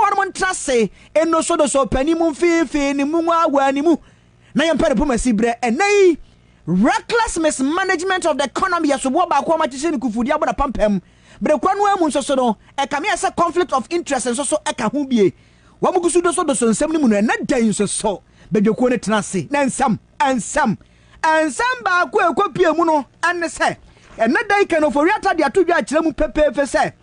wɔnom ntra se nnosodoso pɛ ne mu mfeefee ne mu nwa awaa ne mu na yɛmpɛ no pomasi berɛ ɛnnɛ yi reckless mismanagement of the economy yɛ soboɔ baako a wɔakyekyere no kufudi abɔ n'apampam bere korɔ no ara mu nso so no ɛkame ayɛ sɛ conflict of interest nso so ɛka ho bie wɔn gu so dosodoso nsɛm no mu no ɛnnɛ da yi nso so badwakuo no tena ase na nsɛm nsɛm nsɛm baako a ɛkɔpie mu no ɛne sɛ ɛnnɛ da yi kanofori ata de ato dwa akyerɛ mu pɛpɛɛpɛ sɛ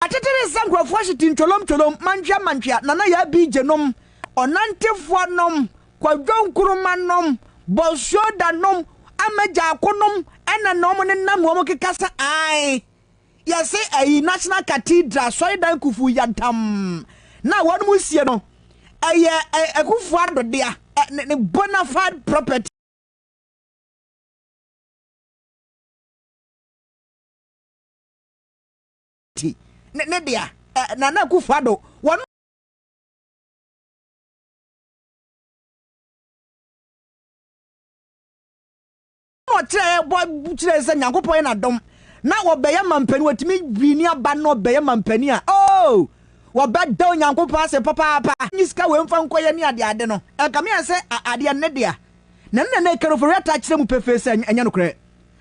Akyekyereɛ sɛ nkurɔfoɔ hye ti ntwolom twolom, mantwea mantwea, Nana Yaa BJ nom, Ɔnantefoɔ nom, Kwadwo Nkrumah nom, Bɔsuo Da nom, Ama Gyarko nom ɛna na wɔn ne nam wɔn keka sɛ ae yɛse ayi National Cathedral asɔredan kufuu yantam na wɔn mu sie no ɛyɛ Akufo Addo dea ne bona fide property. ti ne ne dea eh, Nana Akufo-Addo wɔn ɔkyerɛ bɔ kyerɛ sɛ Nyankopɔn yɛ n'adom na wɔbɛyɛ mampani wɔtumi wini aba na ɔbɛyɛ mampani a oh wɔbɛda Onyankopɔn ase papaapa ne sika wei mfa nkɔyɛ ne adeade no ɛkame ayɛ sɛ adeɛ ne dea na ne nana ɛkɛrɛfo reata akyerɛ mu pefee sɛ ɛnyɛ nokorɛ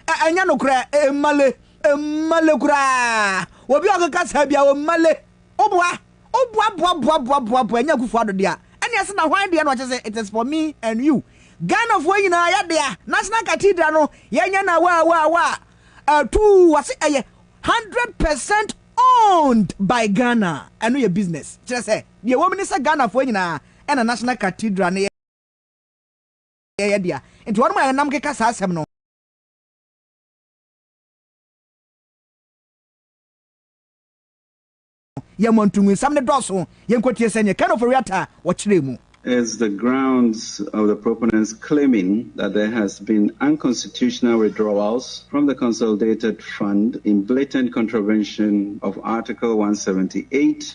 Ɛ, ɛnyɛ nokorɛ. Ɛ, ɛmmale. Ɛmmale koraa. Obi a ɔkeka saa biara, ɔmmale. Woboa, woboa, boa, boa, boa, boa, boa, ɛnyɛ Akufo Addo dea. Ɛnneɛ se na hwan deɛ na ɔkyɛ sɛ it is for me and you. Ghanafoɔ nyinaa yɛ dea. National Cathedral no, yɛnyɛ no awaa, awaa, awaa. Atuu, wɔse ɛyɛ hundred percent owned by Ghana. Ɛno yɛ business. Kyerɛ sɛ, deɛ ɛwɔ mu ne sɛ Ghanafoɔ nyinaa na National Cathedral no yɛ. yɛn yɛ dea. Enti wɔnom a yɛnam keka saa asɛm no. Yɛn mu antungunsɛm no dɔɔso. Yɛnkɔtie sɛnea Ken Ofori-Atta wɔkyerɛɛ mu. is the grounds of the proponents claiming that there has been unconstitutional withdrawals from the consolidated fund in blatant contravention of Article one hundred and seventy eight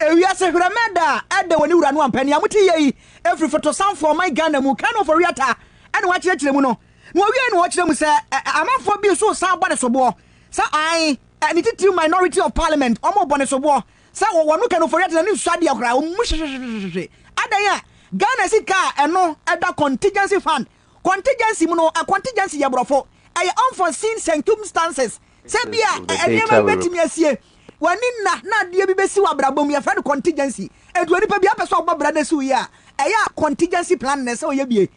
Ewiase Hwerɛmɛ Da a ɛda wɔ ne wura no ampa ni a mote yei ɛfiri Fotosanfoɔ ɔman Ghana mu Kano Ofori-Atta ɛna wakyerɛkyerɛ mu no na ɔwiei no ɔkyerɛ mu sɛ amanfoɔ bi nso resan bɔ ne soboɔ sɛ ae ne titiriw Minority of Parliament wɔn rebɔ ne soboɔ sɛ wɔno Kano Ofori-Atta n'ani nsɔ adeɛ koraa wɔn mu hwehwehwehwehwehwe adan a Ghana sika a ɛno ɛda Contingency Fund Contingency mu no, contingency yɛ Borɔfo, ɛyɛ unforeseen circumstances, sɛ bi a nneɛma bi bɛtumi asie, w'ani nna na adeɛ bi bɛsi w'abrabɔ mu, yɛfrɛ no contingency. Ɛnti onipa bi apɛ sɛ ɔbɔ bra na si wo yie a, ɛyɛ a contingency plan na ɛsɛ ɔyɛ bie.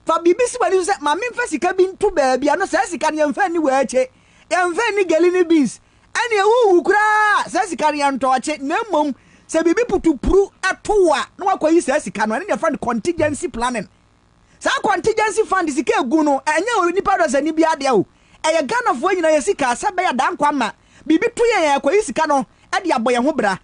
Fa biribi si w'ani so sɛ, ma memfa sika bi nto baabi a, no saa sika no yɛmfa nni waakye, yɛmfa nni gɛli ne beans, ɛneɛ wowu koraa a, saa sika no yɛntɔ ɔkye, na mmom sɛ biribi putupru to wo a, na woakɔyi saa sika no, ɛno na yɛfrɛ no contingency planning. Saa contingency fund sika egu no ɛnyɛ onipa dɔsani biara dea o, ɛyɛ Ghanafoɔ nyinaa yɛ sika sɛ ɛbɛyɛ a Danko ama biribi to yɛn a yɛkɔyi sika no de abɔ yɛn ho bra.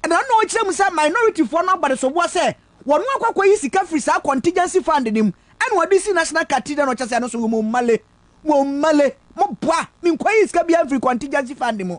Ɛno ara na ɔkyerɛ mu sɛ minoritifoɔ no abɔ adesoboɔ sɛ wɔn akɔ akɔyi sika firi saa contingency fund no mu ɛna wɔde si National Cathedral no ɔkyɛ sɛ ɛno nso womma le, womma le, moboa me nkɔyi sika biara mfiri contingency fund mu.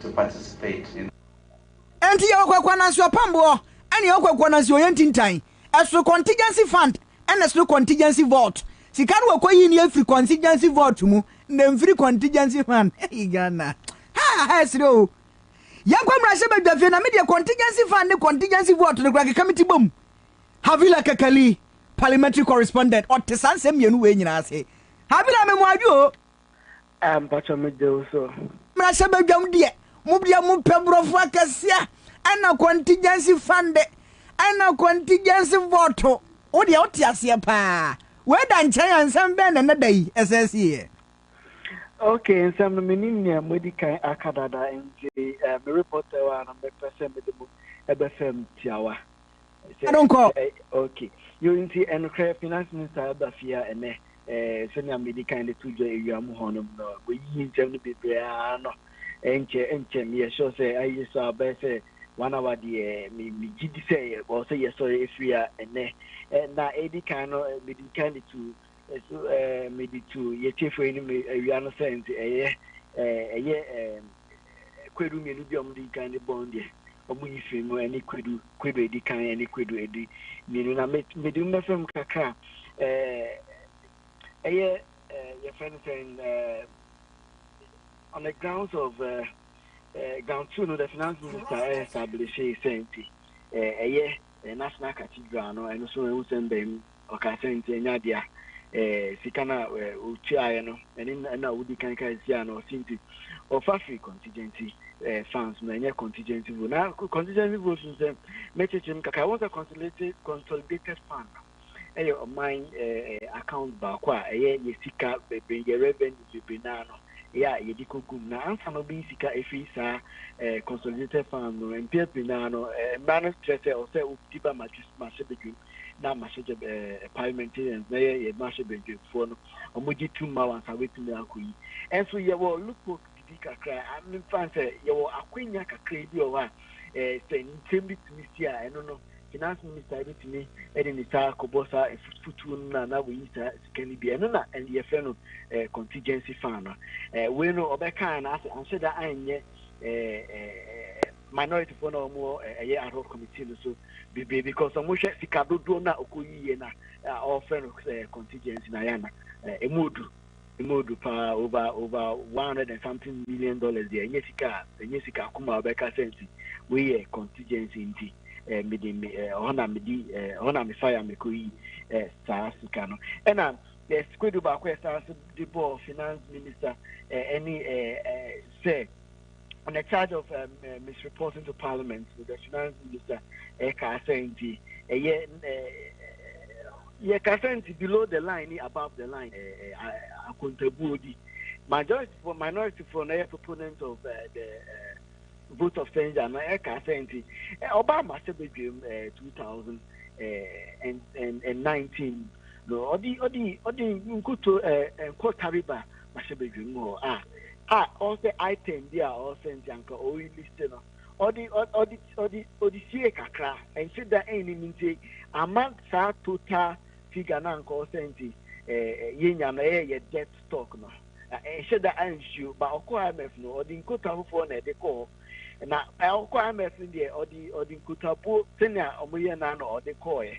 to participate in. Enti yɛwɔ Kwakwa Nanso Apammboɔ ɛne yɛwɔ Kwakwa Nanso Ɔyɛ Ntintan. Ɛsoro contingency fund ɛna ɛsoro contingency vault. Sika no wɔkɔ yi nie firi contingency vault mu na ɛmfiri contingency fund. Hey Ghana. Ha ha ɛsere oo. Yɛnkɔ mmarahyɛ badwa fie na me deɛ contingency fund ne contingency vault no koraa keka me ti bom. Havila Kakali, Parliamentary Correspondent, ɔte saa nsɛm mmienu wei nyinaa ase. Havila me mo adwo oo. Ah mpakyɛ me gye wo so. Mmarahyɛbadwam deɛ mo bia mo pɛ brɔfo akɛseɛ ɛna contingency fund ɛna contingency vote wo deɛ wo te aseɛ paa wei da nkyɛn a nsɛm bɛn na ɛnɛ da yi ɛsɛ sieɛ. Ok nsɛm no menim nea mo adi kan aka dada nti eh, me reporter wɔ ha no mepɛ sɛ mede mo ɛbɛ fam tiawa. I don't call. Eh, okay. You nti ɛnokorɛ finance minister aba fie a ɛnɛ eh, sɛnea medi kan de to dwa awia mu hɔ nom no wɔyiyi nsɛm no bebree ara no ɛnkyɛ ɛnkyɛ meyɛ sure sɛ ayɛ so a bɛyɛ sɛ one hour deɛ megye di sɛ ɛwɔ sɛ yɛsɔre ɛfiri a ɛnɛ eh, na ɛdi kan no eh, medi kan de to eh, so eh, mede to yɛtiefo anim awia no sɛ nti ɛyɛ eh, ɛyɛ eh, kwadu mmienu bi a wɔn di kan de bɔn deɛ wɔn yi firi mu ɛne kwadu kwadu edi kan ɛne kwadu edi mmienu na mede mu bɛfɛ mu kakra ɛɛ ɛyɛ ɛɛ yɛfɛ no sɛn ɛɛ on the grounds of ɛɛ ɛɛ ground two no the finance minister ɛɛ establish sɛn ti ɛɛ ɛyɛ ɛɛ national cathedral no ɛno so ɛho sɛn bɛn mu. Ɔkaa sɛ, Nti ɛnyɛ adea eh, sika no a eh, wotuaeɛ no, ɛne na na wodi kan kae siaa no. Ɔse nti ɔfa firi contingency eh, funds mu, ɛnyɛ contingency vote. Na contingency vote no sɛ mɛkyekyem kakra, wɔn sɛ consolidated, consolidated fund no ɛyɛ ɔman eh, eh, account baako a ɛyɛ yɛ sika bebree, yɛ revenue bebree naa no yɛ a yɛde kɔgum. Na ansa na wobɛyi sika ɛfiri saa eh, consolidated fund no, mpeɛ pii naa no eh, mmara no kyerɛ sɛ ɔsɛ wodi ba madwis, mahyɛ badwam. na amahyɛkyɛ ɛɛ parliamentarians na yɛ yɛ mmarahyɛ badwamfoɔ no wɔn gye tum ma wɔn ansa wɔatumi akɔ yi ɛnso yɛwɔ loophole bibi kakra amefa sɛ yɛwɔ akwanya kakra bi wɔ hɔ a ɛɛ sɛ nsɛm bi tumi si a ɛno no finance minister ebetumi ɛde ne saa akɔbɔ saa efutufutuo no na na wɔyi saa sika no bi ɛno na yɛfrɛ no ɛɛ contingency fund no ɛɛ wei no ɔbɛka na asɛ anhyɛ da anyɛ ɛɛ ɛɛ minority foɔ na wɔn ɛyɛ ad hoc committee no so bebree because wɔn hwɛ sika dodoɔ na ɔkɔ yiyie na ɔfrɛ no sɛ contingency na yɛ ana emu odu emu odu paa over over one hundred and something million dollars deɛ ɛnyɛ sika ɛnyɛ sika kuma ɔbɛka sɛ nti wei yɛ contingency nti ɛɛ mede me ɛɛ ɔhɔ na medi ɛɛ ɔhɔ na mefa ya mekɔ yi ɛɛ saa sika no ɛna ɛɛ sikwedu baako ɛsan so de bɔɔ finance minister ɛɛ ɛne ɛɛ ɛɛ sɛ. on the charge of um, uh, misreporting to parliament with the finance minister ɛkaasa eh, nti ɛyɛ yɛ kasa nti below the line ni above the line eh, akontabuo bi majority for minority for na yɛ proponent of uh, the uh, vote of censure na ɛkaasa nti ɔba ama sɛ bedwam two thousand and nineteen no ɔdi ɔdi ɔdi nkuto nkotariba. mahyɛ badwam mu hɔ a a ɔwɔ sɛ item bi a ɔwɔ sɛ nti anka ɔyi list no ɔde ɔde ɔde ɔde sie kakra ɛnhyɛ da ɛnni ne nti ama saa total figure na anka ɔwɔ sɛ nti ɛɛ yɛnya no ɛyɛ yɛ debt stock no ɛnhyɛ da ansuo ba ɔkɔ imf no ɔde nkota foforɔ na ɛde kɔɔ na ɔkɔ imf no deɛ ɔde ɔde nkotabuo sɛnea wɔyɛ no ano ɔde kɔɔɛ.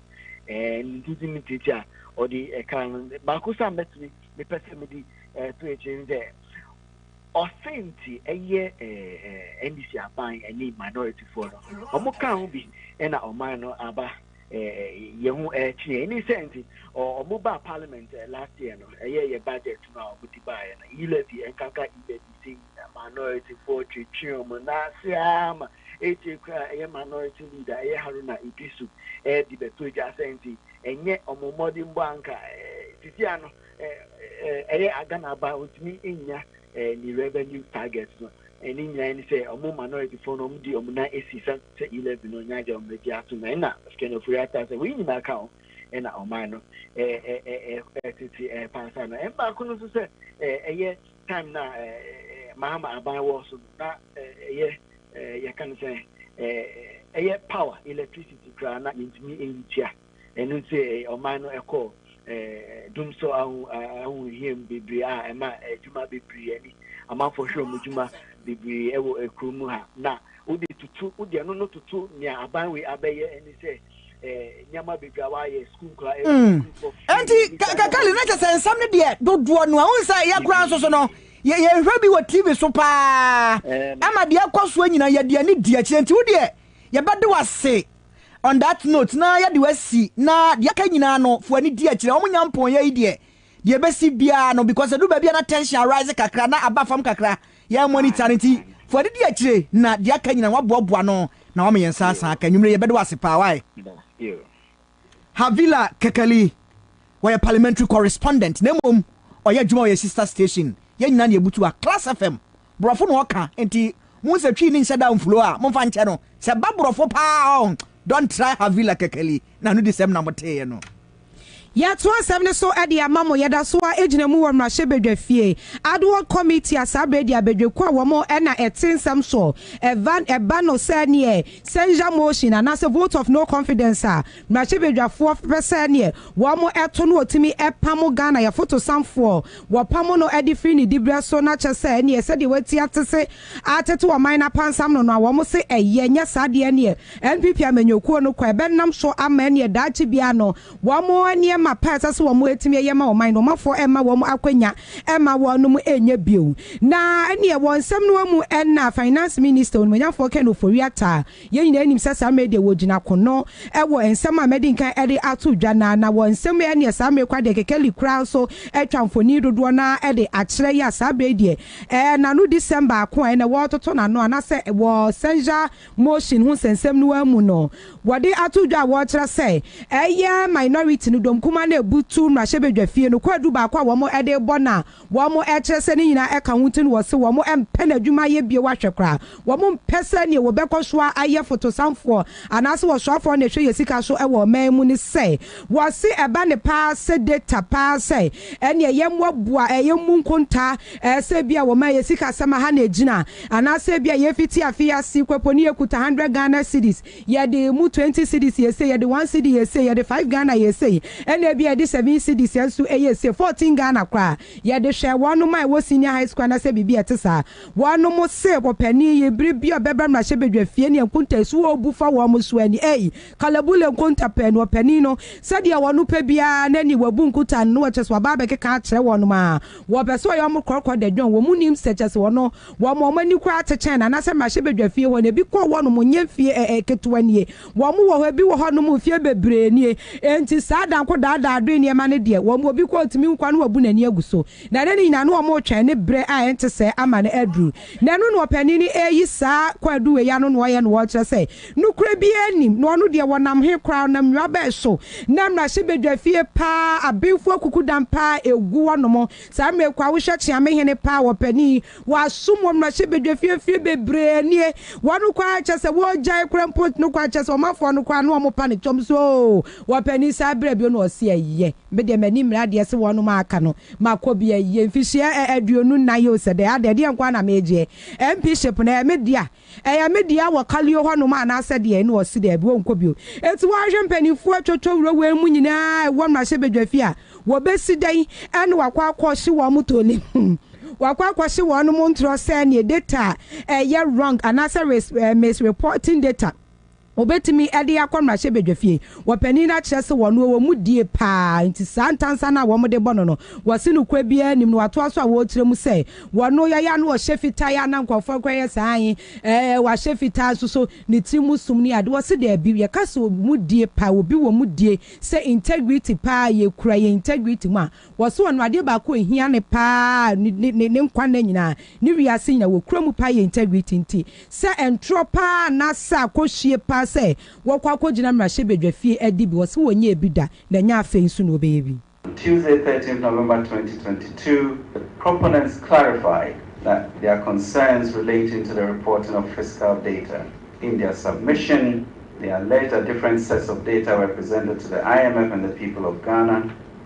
ɛɛ ne didi ne titi a ɔde ɛka no baako sɛ a mɛtumi mepɛ sɛ mede ɛto eh, akyire ne sɛ ɔse nti ɛyɛ ɛɛ ndc aban ɛne minorityfoɔ no ɔmo ka ho bi ɛna ɔman no aba ɛɛ yɛn ho ɛkyeɛ ɛne sɛ nti ɔmo ba parliament last year no ɛyɛ yɛ budget no a ɔmo de baeɛ no e-levy ɛnkanka e-levy nti na Minorityfoɔ twetwee wɔn nan ase ara ma akyire koraa ɛyɛ Minority Leader ɛyɛ Haruna Iddrisu ɛredi bɛto gya sɛ nti ɛnyɛ wɔn mmɔdenbɔ anka sisi ano ɛyɛ Ghana ba ɔntumi nnya ne revenue target no ɛne nyinaa ne sɛ wɔn Minorityfoɔ no wɔn di wɔn nan asi sɛ sɛ E-levy no nya agya wɔn agye ato na ɛna Ken Ofori-Atta sɛ wɔn nyinaa ka ho ɛna ɔman no ɛtete ɛpaasa no ɛmbaako no nso sɛ ɛyɛ time na mahama aban wɔ so no na ɛyɛ yɛka no sɛ ɛyɛ power electricity koraa na mentumi ɛyi tua ɛno nti ɔman no ɛkɔɔ dum so ahohiam bebree a ɛma adwuma bebree ani amanfoɔ hwɛ wɔn adwuma bebree wɔ kuro mu ha na wode tutu wode ɛno no tutu nea aban wei abɛyɛ ɛne sɛ nti kakali na kyɛ sɛ nsɛm no deɛ dodoɔ no a wohu sɛ yɛ koraa nso so no yɛhwɛ bi wɔ tv so paa ama deɛ ɛkɔ soɔ nyina yɛde ani di akyirɛ nti wo deɛ yɛbɛde wase on that note na yɛde wasi na deɛ aka nyinaa no fo ani di akyirɛ wɔn nyampɔn yɛ yi deɛ Deɛ ɛbɛsi biara no because ɛduru baabi a na tension arise kakra na aba fam kakra, yɛn monitor no nti fa adidi akyire na deɛ aka nyinaa no waboaboa ano na wama yɛn nsa asan aka. Anwumerɛ yi yɛbɛda wo ase paa wai. Havila Kekali, wɔyɛ parliamentary correspondent na mmom ɔyɛ adwuma wɔ yɛn sister station, yɛn nyinaa na yɛbutu ha, Class FM. Brɔfo na ɔka nti muhu sɛ twi ne nhyɛ da mflow a momfa nkyɛ no sɛ ba brɔfo paa oh don't try Havila Kekeli na no di sɛm na mo teeɛ no. Yɛato asɛm no so de ama mo. Yɛda so ara gyina mu wɔ Mmarahyɛ Badwa Fie Ad Hoc Committee a saa berɛ deɛ Badwakuo a wɔn na ɛte nsɛm soɔ ɛva ɛba no sɛ neɛ censure motion anaasɛ vote of no confidence a Mmarahyɛbadwafoɔ fepɛ sɛ neɛ wɔn to no ɔtumi pamo Ghana yɛ fotosanfoɔ, wɔpamo no de firi ne diberɛ so na kyɛ sɛ neɛ sɛdeɛ wati atese atete ɔman no apansam no no a wɔn se ɛyɛ, nyɛ saa deɛ neɛ NPP amanyɔkuo no kɔ ɛbɛnam so ama ɛneɛ daakye biara no wɔn nneɛma pa a ɛsɛ sɛ wɔn ɛtumi ɛyɛ ma ɔman no ɔmafoɔ ɛmma wɔn akwanya ɛmma wɔnom ɛnyɛ bio. Na ɛneɛ wɔ nsɛm no mu ɛna Finance Minister Onimuonyamfoɔ Ken Ofori-Atta Yɛn nyinaa nim sɛ saa mmere yi deɛ wɔgyina ko no wɔ nsɛm a mɛdi nkan de ato dwa no ara, na wɔ nsɛm yi ɛneɛ saa mmere yi koraa deɛ kekeli koraa nso atwa mfoni dodoɔ no ara de akyerɛ yɛ a saa berɛ yi deɛ ɛɛ n'ano di sɛm baako a ɛnɛ wɔretoto n'ano anaasɛ wɔ censure motion ho nsɛnsɛm no ara mu no wɔde ato dwa a wɔrekyerɛ sɛ ɛyɛ minority no dɔm kumaa no rebutu mmarahyɛbadwafie no kwaadu baako a wɔn de rebɔ no a Wɔn ɛkyerɛ sɛ ne nyinaa ɛka ho nti na wɔse wɔn mpɛ n'adwuma yɛ bio ahwɛ koraa. Wɔn mpɛ sɛ neɛ wɔbɛkɔ so ara ayɛ fotosanfoɔ anaase ɔsoafoɔ na ɛhwɛ yɛ sika so wɔ ɔman mu ne sɛ wɔse ɛba ne paa sɛ data paa sɛ ɛneɛ yɛmmoa boa ɛyɛ mmu nkontaa ɛɛ sɛ ebia wɔn ɛyɛ sikasɛm aha na ɛgyina anaase ebia yɛfiti afe yi ase kɔ po ne yɛkuta 100 Ghana cedis Yɛde mu twenty cedis yɛ sei, yɛde one cedi yɛ sei, yɛde five Ghana yɛ sei, ɛna ebi a yɛde seven cedis yɛ nso ɛyɛ sei, fourteen Ghana koraa. Yɛde hwɛɛ wɔnom a ɛwɔ senior high school anaasɛ biribi a ɛte saa. Wɔnom se ɔpanin yi, bere bi a ɔbɛba mmarahyɛbadwa fie ne Nkonta su a ɔbu fa wɔn so ani, ei, Kalabule Nkonta pɛɛ no, ɔpanin no, sɛdeɛ wɔpɛ biara, n'ani, wabu Nkuta no, na kyerɛ sɛ waba abɛkeka akyerɛ wɔnom a wɔpɛ sɛ ɔyɛ wɔn korɔkorɔ dɛ dwon, wɔn nnim sɛ kyerɛ sɛ ɔno, Wɔma wɔn ani koraa kyekyɛn no anaasɛ mmarahyɛbadwa fie hɔ no, ebi kɔ hɔ nom nyɛ mfie ɛɛ ketewa nie. Wɔn wɔ hɔ, ebi wɔ hɔ nom mfie bebree nie. Enti saa adanko daadaa adwene nneɛma no deɛ, wɔn obi koraa otumi hu kwan na wabu n'ani agu so. Na ɛnɛ no nyinaa no wɔn retwɛn ne bere a ɛnte sɛɛ ama no aduru. Na ɛno na ɔpanin no reyi saa kwaadu wei ano na ɔyɛ na ɔrekyerɛ sɛ nokorɛ biara nnim, na ɔno deɛ wɔnam he koraa, ɔnam nnwuma bɛn so na mmarahyɛbadwa fie paa, abenfoɔ kuku dan paa egu hɔ nom, Saa mmerɛ kɔ a wohwɛ kyea me hene paa wɔ panin wɔ asom wɔ mmarahyɛ badwa fie mfeɛ bebree nie wɔn kɔ ara kyɛ sɛ wɔgyae kora mpo no kɔ ara kyɛ sɛ ɔmanfoɔ no kɔ ara no wɔn pa no twam so oo wɔ panin saa berɛ bio no ɔse ɛyɛ me deɛ m'ani mmere adeɛ se wɔnom a aka no makɔ bi ɛyɛ mfihyeɛ ɛ aduonu nnan yoo sɛ dɛn adɛn ɛdeɛ nko ara na megyeɛ MP ship no ɛyɛ me dea Ɛyɛ me dea wɔ Kalio hɔnom anaasɛ deɛn? Na ɔse, Daabi, wonkɔ bio. Enti woahwɛ mpaninfoɔ atwotwo wura wei mu nyinaa a ɛwɔ mmarahyɛbadwafie a wɔbɛsi dɛn ɛne wakɔ akɔhye wɔn mo toli hmm wakɔ akɔhye wɔn mo ntorɔ sɛɛ neɛ data a ɛyɛ wrong anaasɛ res eh, misreporting data. Obetumi de akɔ mmarahyɛbadwafie. Wɔpanin no akyerɛ se wɔno ɔwɔ mu die paa nti saa ntansa no a wɔn de bɔ no no wɔse no kura biara nnim no watoa so a wɔrekyerɛ mu sɛ wɔno yɛ ya no ɔhyɛ fitaa ya na nkurɔfoɔ kora yɛ saa ae ɛɛ wahyɛ fitaa nso so ne tiri mu som ne ade wɔse daabi yɛka sɛ ɔwɔ mu die paa obi wɔ mu die sɛ integrity paa yɛkura yɛn integrity mu a Wɔse ɔno adeɛ baako a ɛhia no paa ne ne nkwa nna nyinaa, ne wiase nyinaa wɔkura mu paa yɛ integrity nti sɛ ntorɔ paa anaasɛ akɔhwie paa sɛ wɔkɔ akɔgyina mmarahyɛbadwafie adi bi wɔse wɔnyɛɛ bi da na ɛnyɛ afei nso na wɔbɛyɛ bi. On Tuesday, thirteenth November, twenty twenty two, proponents clarified that their concerns relating to the reporting of fiscal data. In their submission, they alleged that different sets of data were presented to the IMF and the people of Ghana,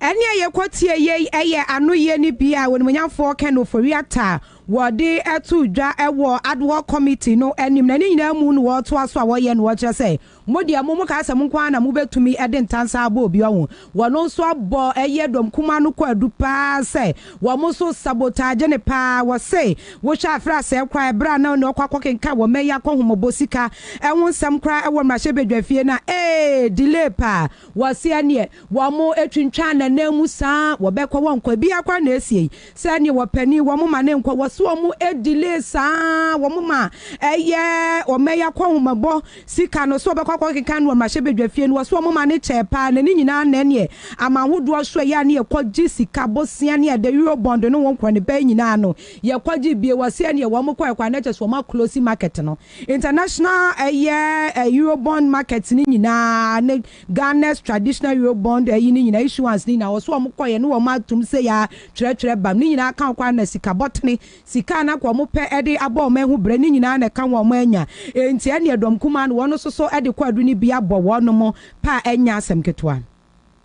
Ɛnne a yɛkɔtie yei yɛ anoyie no bi a Onimuonyamfoɔ Ken Ofori-Atta wɔde to dwa wɔ Ad Hoc Committee no anim na ne nyinaa mu na wɔretoa so a wɔyɛ na wɔkyerɛ sɛ mo deɛ mo mo ka asɛm nko ara na mobɛtumi de ntansa abɔ obi ɔho. Wɔn nso abɔ ɛyɛ dɔm kumaa no kwaadu pa ara sɛ wɔn nso sabotage no pa ara. Wɔse wohwɛ a fra sɛɛ koraa ɛberɛ a na ɔne ɔkɔ akɔkenkan wɔn ayi akɔhomɔbɔ sika ho nsɛm koraa wɔ mmarahyɛbadwafie no a ee delay pa ara. Wɔseɛ neɛ wɔn twintwaan nananmu saa wɔbɛkɔ wɔn kɔ biaa kwan na ɛsiei sɛ neɛ wɔpɛni wɔn ma ne nkɔ wɔse wɔn delay saa wɔn ma ɛyɛ wɔn ɛyɛ akɔnhomabɔ sika no sɛ wɔbɛkɔ akɔ keka no wɔmrahyɛ badwa fie no wɔse wɔn ma ne kyɛɛ paa na ne nyinaa na ɛneɛ aman hodoɔ so ɛyɛ a ne yɛkɔ gye sika bosea ne ɛdɛ euro bond no wo nkorɔ ne pɛɛ nyinaa no yɛkɔ gye bie wɔse ɛneɛ wɔn kɔɛ kɔ a na kyɛsɛ wɔn a close market no International ɛyɛ Eurobond market no nyinaa ne Ghana's traditional Eurobond ɛyi no nyinaa issuance no nyinaa wɔ so wɔn kɔyɛ ne wɔn atom sɛ ya twerɛtwerɛ bam ne nyinaa ka kɔ na sika bɔtene sika a na ka wɔn pɛ ɛde abɔ wɔn ɛho brɛ ne nyinaa na ɛka wɔn anya ɛnti ɛneɛ dɔm kumaa no wɔn nso so ɛde kɔ adu no bi abɔ wɔnom paa ɛnyɛ asɛm ketewa.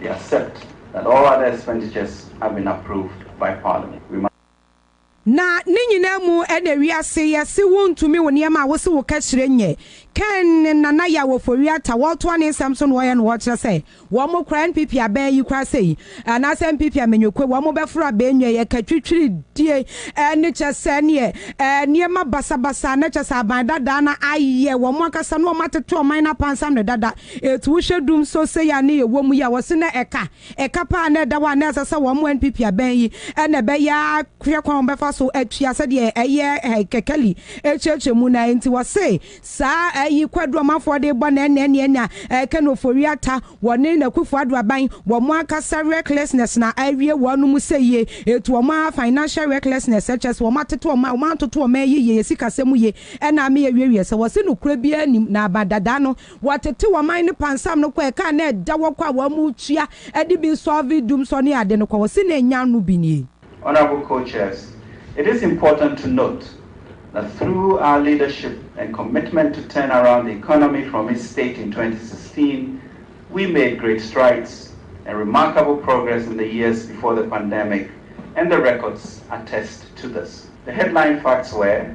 They accept that all other expenditures have been approved by Parliament. We must. Na ne nyinaa mu na wiase yɛ se wo ntumi wo nneɛma a wo se wo kɛhyerɛ nyɛ. Ken ne Nana Yaw Ofori-Atta wɔtoa ne nsɛm so na wɔyɛ no wɔkyerɛ sɛ wɔn mo kora NPP a bɛn yi kora sɛ yi anaasɛ NPP a Menyokwe wɔn mo bɛforo a bɛn nwa yi ɛka twitwiridie ne kyɛ sɛ neɛ nneɛma basabasa na kyɛ sɛ aban dadaa na ayɛ wɔn ankasa na wɔn atete ɔman no apansam no dada. Etu wohwɛ dum so sei a ne yɛwɔ mu yi a wɔse na ɛka ɛka paa na ɛda hɔ a na ɛsɛ sɛ wɔn NPP abɛn yi na ɛbɛyɛ a hwɛ kwan a wɔbɛfa so atua sɛdeɛ ɛyɛ Kekeli akyerɛkyerɛ mu no a enti wɔse saa ayi kwadu ɔmanfoɔ de rebɔ na ɛnɛ neɛ na Ken Ofori Atta wɔne na Akufo Addo aban wɔn ankasa recklessness na awie wɔn mu sɛ yie etu wɔn a financial recklessness ɛkyerɛ sɛ wɔn atete wɔn wɔn antoto wɔn ayi yie yɛ sikasɛm mu yie ɛna ama yɛawiewie sɛ wɔse nokorɛ biara nnim na abadadaa no Wɔtetew ɔman no pansam no kɔ ɛka a na ɛda hɔ kɔ a wɔamutua de bi nsɔve dum sɔ ne ade no kɔ. Wɔse na enya no bi nie. Honourable Co-Chairs, It is important to note that through our leadership and commitment to turn around the economy from its state in twenty sixteen, we made great strides and remarkable progress in the years before the pandemic and the records attest to this. The headline facts were.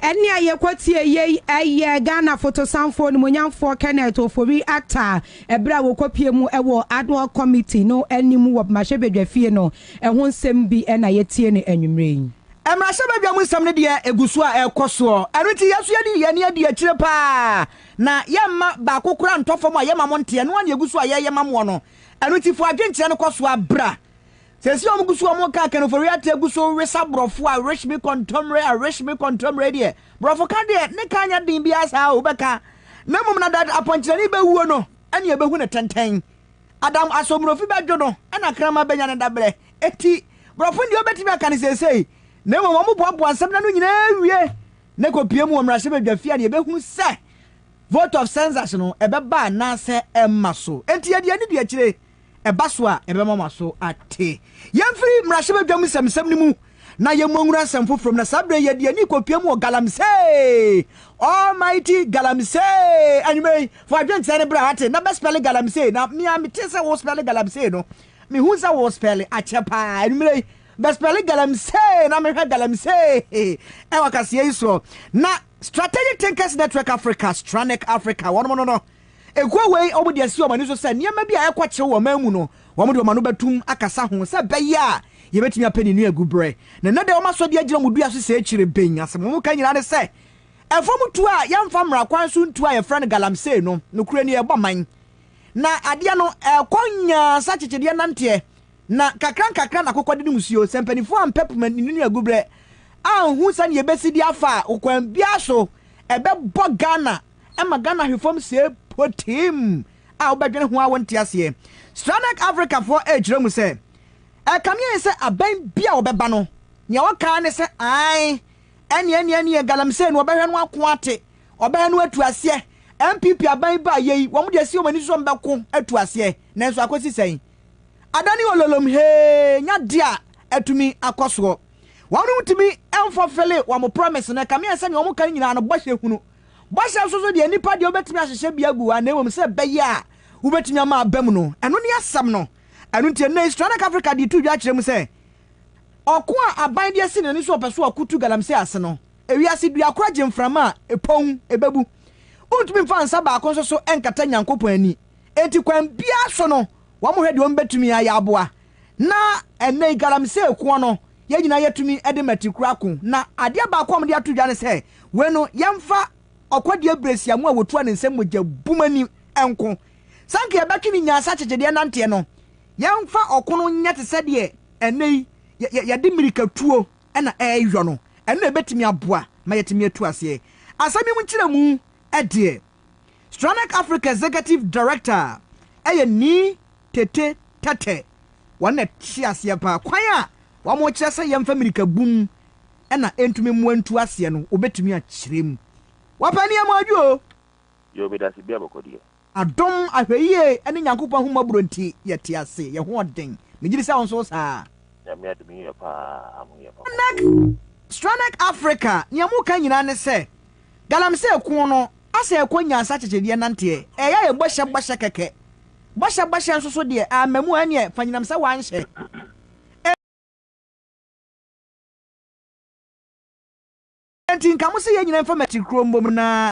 Ɛnne a yɛkɔtiee yei yɛ Ghana fotosanfoɔ nimuonyamfoɔ Kenneth Ofori Attah ɛberɛ a wɔkɔpie mu wɔ Adhoc Committee no anim wɔ Mmarahyɛbadwa fie no ɛho nsɛm bi na yɛtie no anwummerɛ yi. Mmarahyɛbadwa mu nsɛm no deɛ ɛgu so a ɛrekɔ soɔ, ɛno nti yɛn nso yɛde yɛn ani adi akyire pa ara na yɛmma baako koraa ntɔ fam a yɛma mo nteɛ, ɛno ara na yɛgu so a yɛreyɛ ma moɔ no, ɛno nti fa w'adwenkyerɛ no kɔ so ara bra Sɛsi a ɔmo gu so ɔmo ka akanifori ateɛ gu so wesa brɔfo a wish me kɔntɔmmerɛ a wish me kɔntɔmmerɛ deɛ brɔfo ka deɛ ne ka nyɛ den biaa saa o bɛka na mmom na that apɔnkyerɛni bɛwuo no ɛna yɛbɛhu no tɛntɛn Adam asɔ mmorofi bɛdwo no ɛna kraman bɛnya ne dabrɛ enti brɔfo deɛ ɔbɛtumi aka no seesei na mmom ɔmo boaboa nsɛm no ano nyinaa wie na ɛkɔpue mu wɔ mmarahyɛ badwa fie a na yɛbɛhunu sɛ vote of census no ɛbɛba anaasɛ ɛmma so enti yɛde ani di akyire ɛba so a, ɛbɛma mo aso ate. Yɛmfiri mmarahyɛbadwam nsɛmnsɛm no mu na yɛmmɔ nwura nsɛm foforɔ mu, na saa berɛ yi yɛde yɛn ani rekɔpia mu wɔ Galamsey, Almighty Galamsey. Anwummerɛ yi, fa adwenkyerɛ no bra ate, na bɛspɛle Galamsey, na me a mete sɛ wospɛle Galamsey no, mehu sɛ wospɛle akyɛ paa. Anwummerɛ yi, bɛspɛle Galamsey, na mehwɛ Galamsey ɛwɔ kaseɛ yi soɔ. Na Strategic Thinkers Network Africa, Stranek Africa, wɔnom no no, Ekuo wei wɔn de asi wɔn ani so sɛ nneɛma bi a ɛrekɔ kyew wɔ ɔman mu no wɔn de wɔn ano bɛtum akasa ho sɛ ɛbɛyɛ a yɛbɛtumi apɛ ne nu agu brɛ na nnɛ deɛ wɔn asɔ de agyina wɔn dua so sɛ akyire ben asɛm wɔn ka nyinaa ne sɛ ɛfam tuo a yɛmfa mmara kwan so ntuo a yɛfrɛ no galamsey no nokorɛ ni ɛbɔ man na adeɛ no ɛrekɔ nyaa sa kyekyedeɛ nanteɛ na kakra nkakra na akokɔde no musuo sɛ mpanifoɔ ampɛ poma ne nu agu brɛ anhu sɛne yɛbɛsi de afa a okwan biara so ɛbɛbɔ Ghana ɛma Ghana hwe fam sɛɛ pɔtee-m a wobɛdwene ho a wonte aseɛ. Sranak Afrikafoɔ ɛrekyerɛ mu sɛ, Ɛkame yɛn sɛ abɛn bi a wɔbɛba no, nea wɔka ara ne sɛ, Ae, ɛneɛ, ɛneɛ, ɛneɛ, Galamsey no, wɔbɛhwɛ no ako ate, wɔbɛhwɛ no atu aseɛ. NPP aban yi baeɛ yi, wɔn de asi wɔn ani so sɛ wɔbɛko atu aseɛ, nanso akɔsi sɛn? Adane ololom hee, nyɛ adeɛ a atumi akɔ soɔ. Wɔn ntumi mfɔfele wɔn promise no, ɛkame yɛn sɛ nea wɔka no nyinaa no, bɔhyɛ hunu. Bɔhyɛ nso so deɛ nipa deɛ wobɛtumi ahyehyɛ bi agu hɔ a, na mmom sɛ ɛbɛyɛ a wobɛtumi ama aba mu no, ɛno ne asɛm no. Ɛno nti, ɛnnɛ yi Sranak Africa de to dwa kyerɛ mu sɛ, ɔko a aban de asi n'ani so a ɔpɛ sɛ ɔko tu galamsey ase no, ewiase dua koro agye mframa a, epɔn, ebebu. Wontumi mfa nsa baako nso so nkata Nyankopɔn ani. Enti kwan biara so no, wɔhwɛ deɛ wɔbɛtumi ayɛ aboa. Na ɛnnɛ yi, galamsey ko no, yɛn nyinaa yɛtumi de Matikura ako. Na adeɛ baako a wɔde ato dwa ne sɛ, wei no, yɛmfa Ɔkɔdeɛ Abrɛsiamu a wɔtua ne nsam mogya bum ani nko. Sɛ anka yɛbɛtwe ne nyansa akyekyedeɛ nanteɛ no, yɛmfa ɔko no nyɛ te sɛ deɛ ɛnnɛ yi yɛde mmirikatuo na ɛreyɔ no. Ɛno na ɛbɛtumi aboa ma yɛatumi atu aseɛ. Asɛm yi mu nkyerɛmu deɛ. Stranek Africa Executive Director yɛ Nii Tete Tete, wɔn na ɛte aseɛ paa. Kwan a wɔkyerɛ sɛ yɛmfa mmirika bu mu na ɛntumi mmoa ntu aseɛ no, wɔbɛtumi akyerɛ mu. Wɔpɛ nneɛma ɔdwo o. Yoo meda se bia bɔkɔ deɛ. Adom, ahwɛyie ne Nyankopɔn ahummɔborɔ nti yɛte ase, yɛ ho ɔden. Megye di sɛ wo nso wo saa. Nyame adom yɛ paa, aho yɛ papa. Stranek Africa, nea moka nyinaa ne sɛ Galamsey ko no asɛ ɛkɔ nyansa kyekyɛdiɛ nanteɛ ɛyɛ ayɛ bɔhyɛ bɔhyɛ kɛkɛ bɔhyɛ bɔhyɛ nso so deɛ amma mu ɛneɛ fa nyinam sɛ wanhyɛ enti nka mo se yɛn nyina mfa matiri kuro mbom na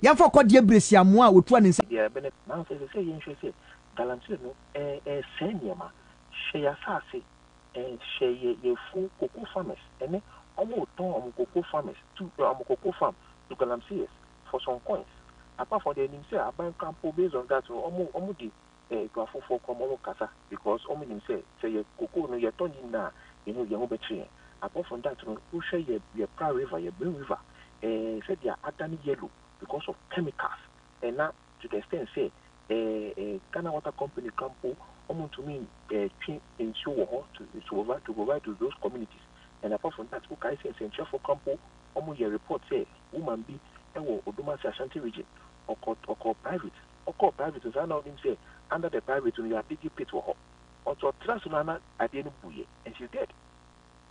yɛmfa ɔkɔdeɛ brɛsi amoa a ɔtua ne nsa. Biribiara bɛn adi. Nanso ɛsɛ sɛ yɛhwɛ sɛ galamsey no rensɛe nneɛma. Hwɛ yɛn asase eh, hwɛ yɛn yɛn afuo, cocoa farmers, ɛnnɛ wɔretɔn wɔn cocoa farmers to wɔn cocoa farm to galamseyers for some coins. Apart from deɛ yɛnim sɛ aban kura mpo based on that no wɔn wɔn de Eh nka afoforɔ kɔ ma ɔmo kasa because ɔmo nim sɛ sɛ yɛ kokoo no yɛ tɔ ne nyinaa a yɛn ho yɛn ho bɛkyere yɛn apart from that no wo hwɛ yɛ yɛ pra river yɛ bring river eh sɛdeɛ adane yellow because of chemicals eh na to the extent sɛ eh eh Ghana water company koraa mpo ɔmo ntumi eh twe nsuo wɔ hɔ to to provide to provide to those communities and apart from that wo kae sɛ nsɛnkyerɛfoɔ koraa mpo ɔmo yɛ report sɛ woman bi ɛwɔ Odomase Ashanti region ɔkɔ ɔkɔɔ private ɔkɔɔ private no saa na ɔnim sɛ under the private no yɛ adigge pit wɔ hɔ ɔnti ɔtra so no ana adeɛ no buiɛ and she's dead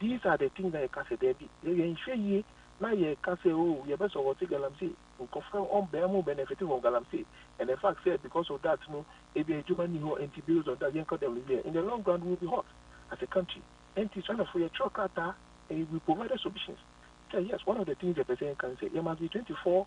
these are the things na yɛka sɛ daabi yɛ yɛnhwɛ yie na yɛka sɛ oh yɛbɛsɔ wɔte galamsey nkɔfra ɔn bɛn mo benefit from galamsey and the fact sɛ because of that no ebi adwuma ni hɔ nti based on that yɛnkɔ dɛm no yɛ in the long run we will be hot as a country nti sɔnɛfo yɛtwerɛ krataa and we provided solutions sɛ yes one of the things yɛpɛ sɛ yɛnka ne sɛ yɛ must be 24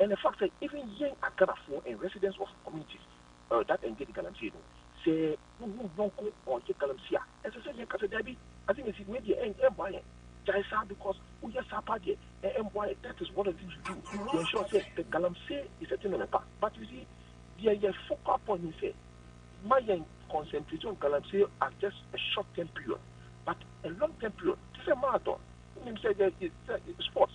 and the fact sɛ even yɛn aGhanafoɔ and residents of communities uh, that engage galamsey no, sɛ wohu yɔnko ɔyɛ galamsey a, ɛsɛ sɛ yɛka sɛ daabi, ase na esi, wei deɛ ɛn ɛmmoa yɛn, gyae saa because woyɛ saa paa deɛ ɛ ɛmmoa yɛn, that is one of the things we do to ensure sɛ the galamsey is a thing on the back. But you see, deɛ yɛ focal point ne sɛ ma yɛn concentrate on galamsey as just a short term period, but a long term period, te sɛ marathon, wonim sɛ yɛ sɛ sports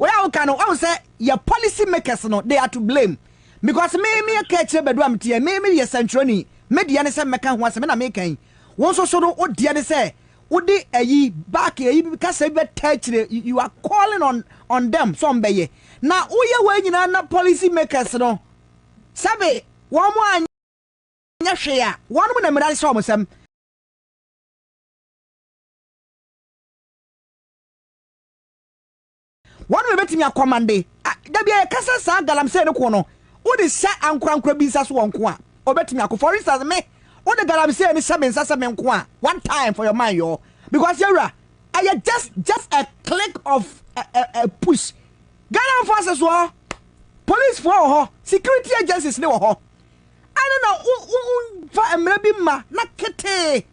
Wei a woka no wahu sɛ yɛ policy makers no they are to blame because me me yɛ ka akyire badu a meteɛ me me yɛ sɛntwerɛni me deɛ ne sɛ mɛka ho asɛ me na me kan wo nso so no wo deɛ ne sɛ wode ayi back ayi kasa bi bɛta akyire you are calling on on them sɛ ɔmbɛyɛ na woyɛ wei nyinaa na policy makers no sɛbe wɔn mo anyɛ hwee a wɔn mo na mmira ne sɛ wɔn sɛm Wɔn na ebetumi akɔmande. A Da biara yɛka sɛ saa galamsey no ko no, wode hyɛ ankorankoro bi nsa so wɔn nko a, obetumi ako. For instance, me, wode galamsey no hyɛ me nsa sɛ me nko a, one time for your mind yɔɔ. Because yɛwura, ɛyɛ just, just a click of a, a, a push. Ghana forces wɔ hɔ, police foɔ wɔ hɔ, security agencies ne wɔ hɔ. Ɛne na wo, wo, wo fa mmara bi ma na ketee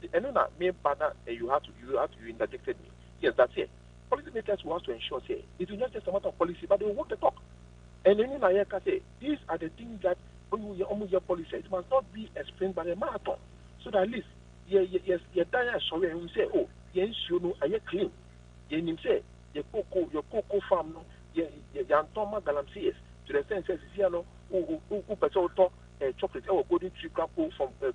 Nti ɛno na me ba na eh you have to you have to you interjected me yes that's it policy makers who has to ensure sɛ it is not just a matter of policy but they will walk the talk and ɛno na yɛka sɛ these are the things that ɔmu yɛ ɔmu yɛ policy it must not be a sprint but a marathon so that at least yɛ yɛ yɛ yɛ dan a ɛsɔre ɛhun sɛ oh yɛn nsuo no ɛyɛ clean yɛn nim sɛ yɛ koko yɛ koko farm no yɛ yɛ yantɔn ma galamseyers to the sense sɛ sisi ano o o o pɛ sɛ wotɔ ɛɛ chocolate ɛwɔ golden tree kura po from ɛɛ.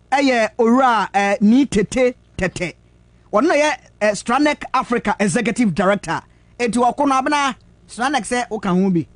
yɛ Owura eh, Nii Tete Tete. Ɔno na ɔyɛ eh, Stranec Africa Executive Director. Enti ɔko no abena Stranec sɛ woka ho bi.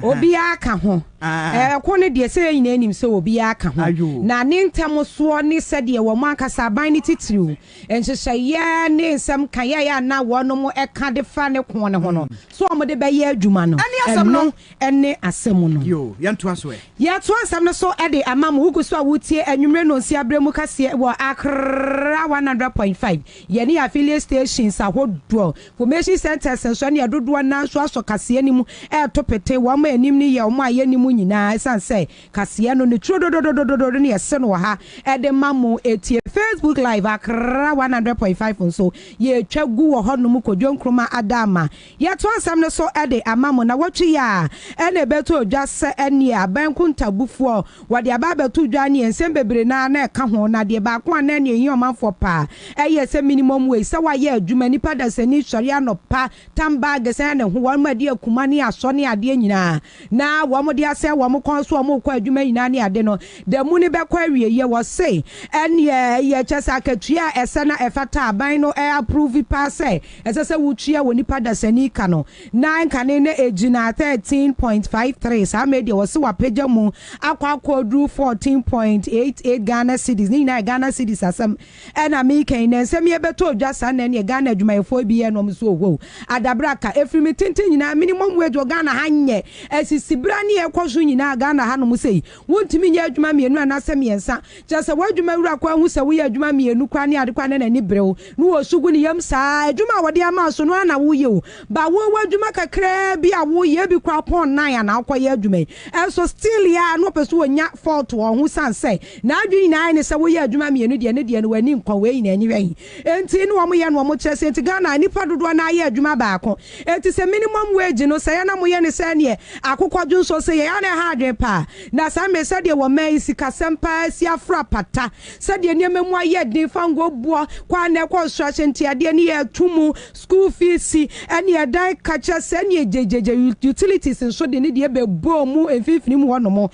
Obiara ka ho. Ah. Eh, ɔko no deɛ sɛ yɛn nyinaa nim sɛ obiara ka ho. Ayo. Na ne ntɛm soɔ ne sɛdeɛ wɔn ankasa aban no titiriw nhyehyɛeɛ ne nsɛm kaeɛ a na wɔnom ɛka de fa ne ko no ho no, mm. so wɔn de bɛyɛ adwuma no. Ɛne asɛm no. ne asɛm no. Yo, yɛntoa so ɛ! Yɛto asɛm no so de ama mo. Wogu so a woretie Anwummere Nnɔnsia Berɛ mu kaseɛ wɔ Accra one hundred point five, yɛne yɛn affiliate stations ahodoɔ, Information Centres nso ne ɛdodoɔ no ara nso asɔ kaseɛ no mu reto pete. Wɔn a ɛnim no yɛ wɔn a yɛnnim mo nyinaa ɛsiane sɛ kaseɛ no ne turo dodododododo no yɛse no wɔ ha de ma mo tie. Facebook Live Accra one hundred point five nso yɛretwa gu wɔ hɔnom. Kojo Nkrumah Adama Yɛto asɛm no so de ama mo na wɔtwe yɛ a ɛna ɛbɛtɔ dwa sɛ ɛneɛ aban nkontabufoɔ wɔde aba abɛto dwa neɛ nsɛm bebree no ara na ɛka ho na deɛ baako a na ɛneɛ ɛhia ɔmanfoɔ paa ɛyɛ sɛ minimum wage sɛ wayɛ adwuma nipa dasani sɔre anɔpa tan bag sɛn ne ho wɔn mu adeɛ akuma ne asɔ ne adeɛ nyinaa na wɔn de asɛe wɔn kɔn so wɔn rekɔ adwuma nyinaa ne ade no, da mu no bɛkɔ awieɛ, wɔse ɛnneɛ yɛ kyɛ sɛ akatua a ɛsɛ na ɛfata a aban no approve paa sɛ ɛsɛ sɛ wotua wɔ nipa dasani ka no, na nkane no ɛgyina thirteen point five three, saa mmerɛ yi deɛ wɔse wɔapagya mu akɔ akɔduru fourteen point eight eight Ghana cedis, ne nyinaa yɛ Ghana cedis asɛm. Ɛna meka yi na nsɛm yi ɛbɛtɔ odwa saa na ɛneɛ Ghana adwumayɛfoɔ bi yɛ nom so ohoo adabraka ɛfiri me tenten nyinaa minimum wage wɔ Ghana ha nyɛ ɛsisi berɛ a neɛ ɛkɔ so nyinaa Ghana ha nom sei wontumi nyɛ adwuma mmienu anaasɛ mmiɛnsa kyerɛ sɛ w'adwuma wura koraa hu sɛ woyɛ adwuma mmienu koraa ne ade koraa na n'ani bere wo na ɔsu gu ne yam saa adwuma a wɔde ama wo so no ara na woyɛ o but wo w'adwuma kakraa bi a woyɛ ebi koraa pɔn nan a na wokɔyɛ adwuma yi ɛnso still a na ɔpɛ sɛ ɔnya fault wɔ ho sane sɛ N'adwene nyinaa ayɛ no sɛ woyɛ adwuma mmienu deɛ ne deɛ no w'ani nkɔ wei na ɛnyɛ hwee nti ne wɔn yɛ no wɔn kyerɛ sɛ nti Ghana nnipa dodoɔ no ara yɛ adwuma baako nti sɛ minimum wage no sɛeɛ na moyɛ no sɛ neɛ akokɔdwo nso sɛeɛ ɛyɛ a na ɛha adwene paa na saa mmerɛ sɛdeɛ wɔ man yi sikasɛm paa asi afra pata sɛdeɛ nneɛma mu ayɛ den fa ngɔboɔ kɔ a na ɛkɔ nsoro ahyɛ nti adeɛ no yɛ to mu school fees ɛne ɛdan kakyɛ sɛ ɛne gyegye utilities nso de ne deɛ bɛbɔɔ mu mfimfini mu hɔ nom.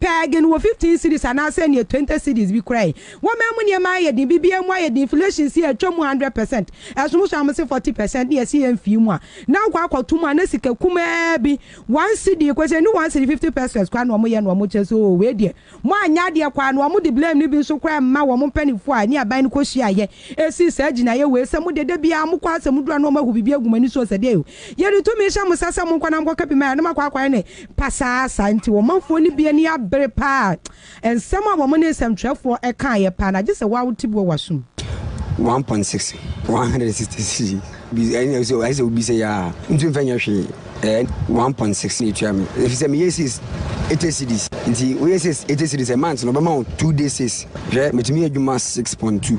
Pɛɛgen wɔ fifteen cedis anaa sɛ neɛ twenty cedis bi koraa yi. Wɔman mu nneɛma ayɛ den, biribiara mu ayɛ den, inflation si a ɛtwa mu hundred percent, ɛsom so a wɔse forty percent ne yɛse yɛnfii mu a na wokɔ akɔto mu a na sika kumaa bi one cedi koraa sɛ ɛnnu one cedi fifty pesos koraa na wɔyɛ na wɔkyɛ sɛ oo wei deɛ moanyɛ adeɛ kɔ ara na wɔde blame no bi nso koraa ɛmma wɔn mpaninfoɔ a ɛne aban no kɔhyiaeɛ ɛsii saa gyinaeɛ wei sɛ modeɛ dabiara mokɔ ara sɛ moduru a na wɔahu biribi agu mo ani so sɛ deɛ Yɛde tumi hyɛ mo nsa sɛ monkɔ na monkɔka bi ma yɛn, na moakɔ akɔyɛ no pasaa saa nti, ɔmanfoɔ no bi ani abere paa. Nsɛm a wɔn ne nsɛmtwerɛfoɔ kaeɛ paa, na gye sɛ wo ara wote bi wɔ w'asom. 1.6 160 cedi bi ɛne ɛsɛ ɛsɛ sɛ obi sɛ yaa ntu nfɛ nyɛ hwee ɛɛ 1.6 na etua mi efi sɛ meyɛ 6 80 cedis nti woyɛ 6 80 cedis a month na ɔbɛma wo 2 day 6 hwɛ metumi yɛ adwuma 6.2